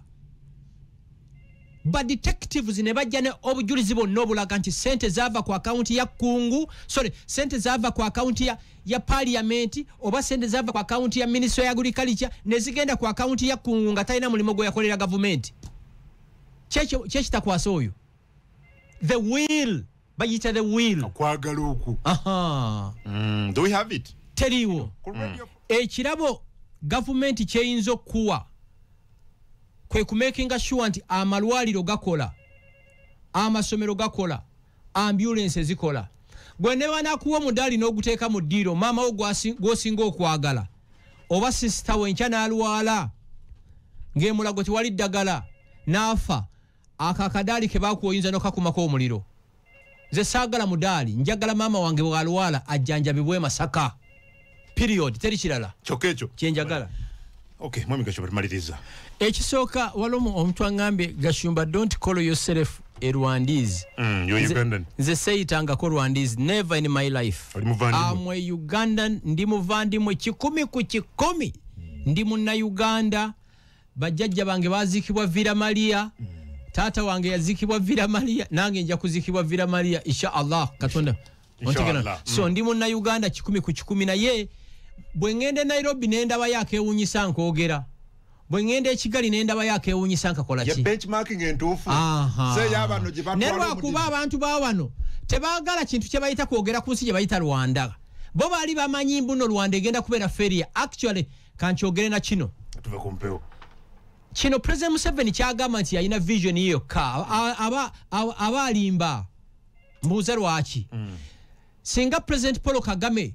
badetectives ne bajja ne obujulizi bonna obulaga nti sente zaava ku akawunti ya kungu sorry sente zaava ku akawunti ya, ya paliyamenti oba sente zaava ku akawunti ya minisitule ya agriculture ne zigenda ku akawunti ya kungu nga talina mulimu gwe yakolera gavumenti kyekitakwasa oyo the will bayita the will okwagala okwo mm, do we have it teriiwo mm. ekirabo gavumenti kyeyinza okukuwa kwe kumakinga sure nti amalwaliro gakola amasomero gakola ambulensi zikola gwe ne banakuwa omudaali n'oguteeka mu ddiiro maama wo gw'osinga okwagala oba sisita we nkya n'alwala ng'emulago tewali ddagala n'afa ako akadaali ke bakuwa oyinza nokakumako omuliro nze saagala mudaali njagala maama wange bwalwala ajjanjabibwa emasaka period teri kirala kyokka ekyo kyenjagala okay mwami gashumba tumaliriza ekisooka waliwo omuntu angambye gashumba don't call yourself a rwandies mm, you're ugandan nze seyitangako rwandies never in my life am a ugandan ndi muvandimwe kikumi ku kikumi ndi munna uganda bajjajja bange baziikibwa vira maliya mm. taata wange yaziikibwa vira maliya nange nja kuziikibwa vira maliya insha allah katonda ontegera so mm. ndi munnayuganda kikumi ku kikumi naye bwe ŋŋenda e nairobi ne ndaba yakewunyisa nkwogera bwe ŋŋenda ekigali ne ndaba yakewunyisa nkakola ki ne lwakuba abantu ba wano tebaagala kintu kye bayita kwogera ku nsi gye bayita rwanda bo baali bamanyi mbuno rwanda egenda kubeera feria actually kankyogere na kino tuve ku mpewo kino president museveni kyagamba nti yalina vision ye yokka A- aba- aba aba alimba mbuuza lwaki singa president paul kagame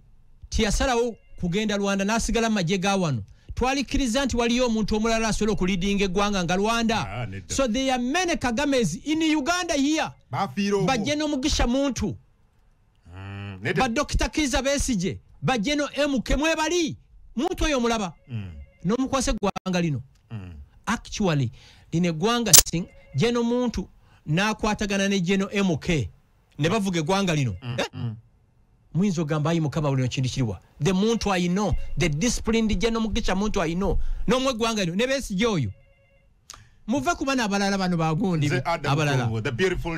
teyasalawo kugenda rwanda n'asigala mu magye ga wano twalikkiriza nti waliyo omuntu omulala asobola okulidinga eggwanga nga rwanda Ah, nedda. so there are many kagames in uganda here bafiira omwo. bajje n'omugisha muntu Mm, naye te- badokita kiza besigye bajeno mk mwebali muntu oyo omulaba Mm, nomukwasa eggwanga lino mm. actually lino eggwanga sing jeno muntu nakwatagana ne jeno mk ne bavuga eggwanga lino Eh? muyinza ogamba ayi mukama buli kintu kiriwa the muntu i know the disciplined jeno mugisha muntu i know nomwe eggwanga lino ne besigye oyo muve ku bana abalala bano bagundi Nze Adam abalala Tongo, the beautiful